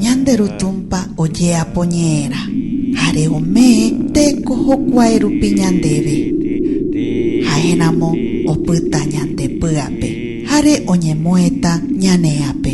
Ñande Ru Tũmpa ojeapo ñe'ẽrã jare ome teko jokuae rupi ñandéve. Ha'e ramo opyta ñande py'ape jare oñemo'ẽta ñane ápe.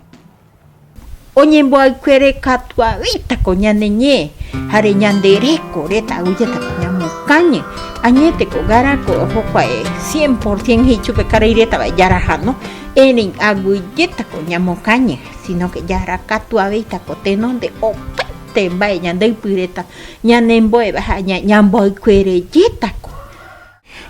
Oñemboaykuére katuaguéitako ñane ñe, jare ñande reko reta oújetako ñamokañy. Añéteko Garako ojokuae cien por cien he'i chupe karai reta va'e jarahano, erei aguyjétako ñamokañy, sino que jarakatuavéitako tenonde opaite mba'e ñande ypy reta ñanembo'eva ha ñamboaykuerejétako.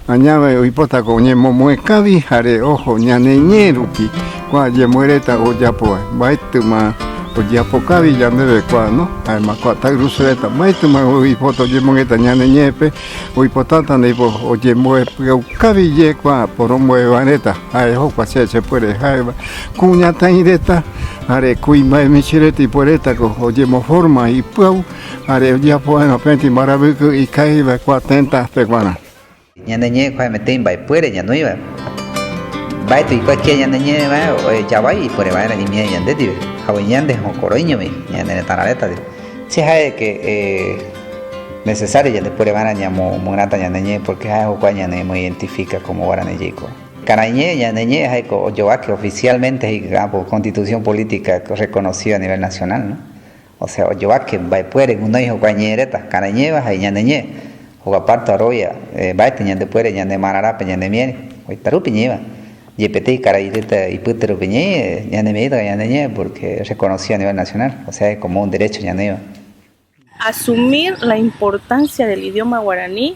Añave oipótako oñemomoe kavy jare oho ñane ñe rupi kua yemyereta ojapovai. Mbaetima ojeapo kavy yandeve kua no, jaema kua tairuse reta mbaetima oipota oyemongueta ñane ñepe, oipotata ndipo oyemboe pyau kavy ye kua poromboeva reta, jae jokua che chepuere jaeva, kuñataireta jare kuimbae michi reta ipueretako oyemoforma ipyau. Jare ojeapo va'erã peẽti mbaravýke ikãi va'ekua tenda peguarã. Ñane ñe'ẽ ko hemete imba'epuere ñanoi va'e. Mba'e tuicha kia ñane ñe'ẽ va'e ohecha vai ipuere va'erã imiẽ ñande ndive, hagueña nde hokoroiñomi ñane retã rareta ndive. Che ja'e de que necesario yande puere va'erã ñamo myrãta ñane ñe'ẽ porque ja'e jokua ñane emo identifica como guarani jeiko. Karai ñe'ẽ, ñane ñe'ẽ jaeko oyovake oficialmente he'i ky'ápo constitución política reconocida a nivel nacional, no? Osẽ ojovake mba'epuere gunoi hokua ñe'ẽ reta, karaiñéva ha iñaneñe, hogua párto arovia mba'ete ñandepuere ñane marãrápe ñanemieri, oitarúpe ñe'ẽva, jepetéi karai reta ipyte rupi ñe'ẽ ñanemiéritava ñaneñe porque es reconocido a nivel nacional, osea como un derecho ñaneĩva. Asumir la importancia del idioma guaraní.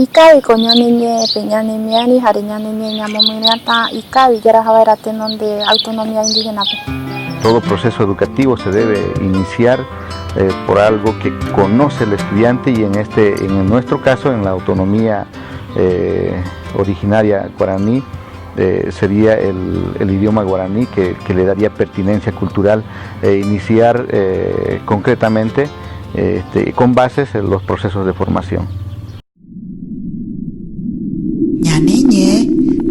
Ikávi ko ñane ñe pe ñane miari jare ñane ñe ñamomyreatã ikávi jaraja vaera tenonde autonomia indígenape. Todo proceso educativo se debe iniciar por algo que conoce el estudiante y en este en nuestro caso en la autonomia originaria guarani. eh, sería el, el, idioma guaraní que, que, le daría pertinencia cultural e iniciar eh, concretamente este, con bases en los procesos de formación. ñaneñe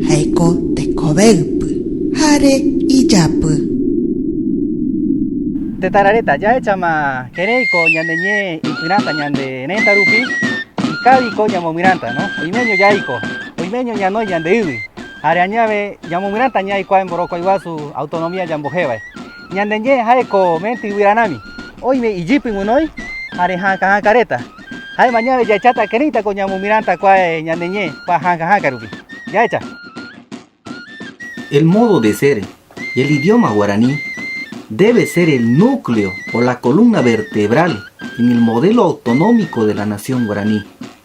jaeko tekovéypy jare ijapy tetarareta jaechama kereiko ñaneñe ipyrãta ñande renta rupi ikaviko ñamomyrãta no oimeño jaiko Oiméño ñanoi ñandeýgui, jare añave ñamomyrãta ñai kua mborokuai guasu autonomía ñambohévae. Ñande ñe'ẽ jaeko mente yvyra rami, oime ijýpy guinoi jare hãka hãka reta. Jaema ñave jahecháta kérãitako ñamomyrãta kua ñande ñe'ẽ kua hãka hãka rupi. Jahecha. El modo de ser y el idioma guaraní debe ser el núcleo o la columna vertebral en el modelo autonómico de la nación guaraní,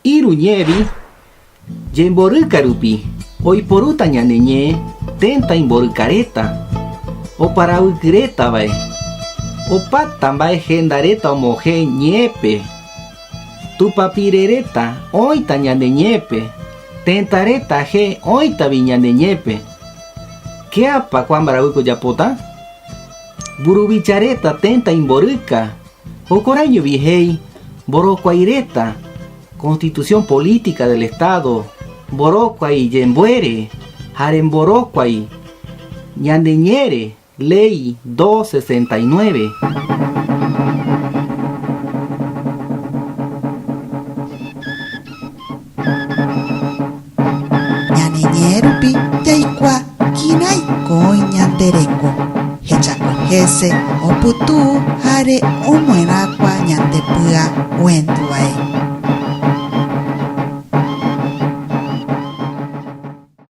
Iru ñe'ẽri jemboryka rupi oiporúta ñane ñe'ẽ ténta imborykaréta oparavykyrétavae. Opáta mba'e hendaréta omohẽ ñe'ẽpe. Tupapireréta oĩta ñane ñe'ẽpe, tentaréta je oĩtavi ñane ñe'ẽpe. Kéapa kua mbaravýko ojapóta? Mburuvicharéta ténta imboryka Jokorãijovi he'i mborokuai reta Constitución Política del Estado, mborokuai jembuére ha remborokuai ñande ñe're Ley 269. Ñaneñe'ẽ rupi jaikuaa kirãi kói ñande reko, hechakuése, opytu hare omyerakuã ñande pya oenduvae.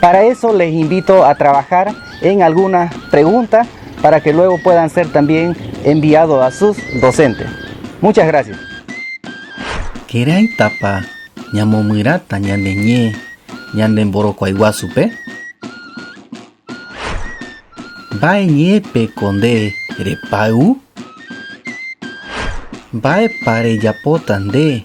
Para eso les invito a trabajar en algunas preguntas para que luego puedan ser también enviados a sus docentes. Muchas gracias. Keraitapa ñamomyrata ñande ñe ñande mborokuaiguasupe? Mbae ñepeko nde repay'u? Mbaepa rejapota nde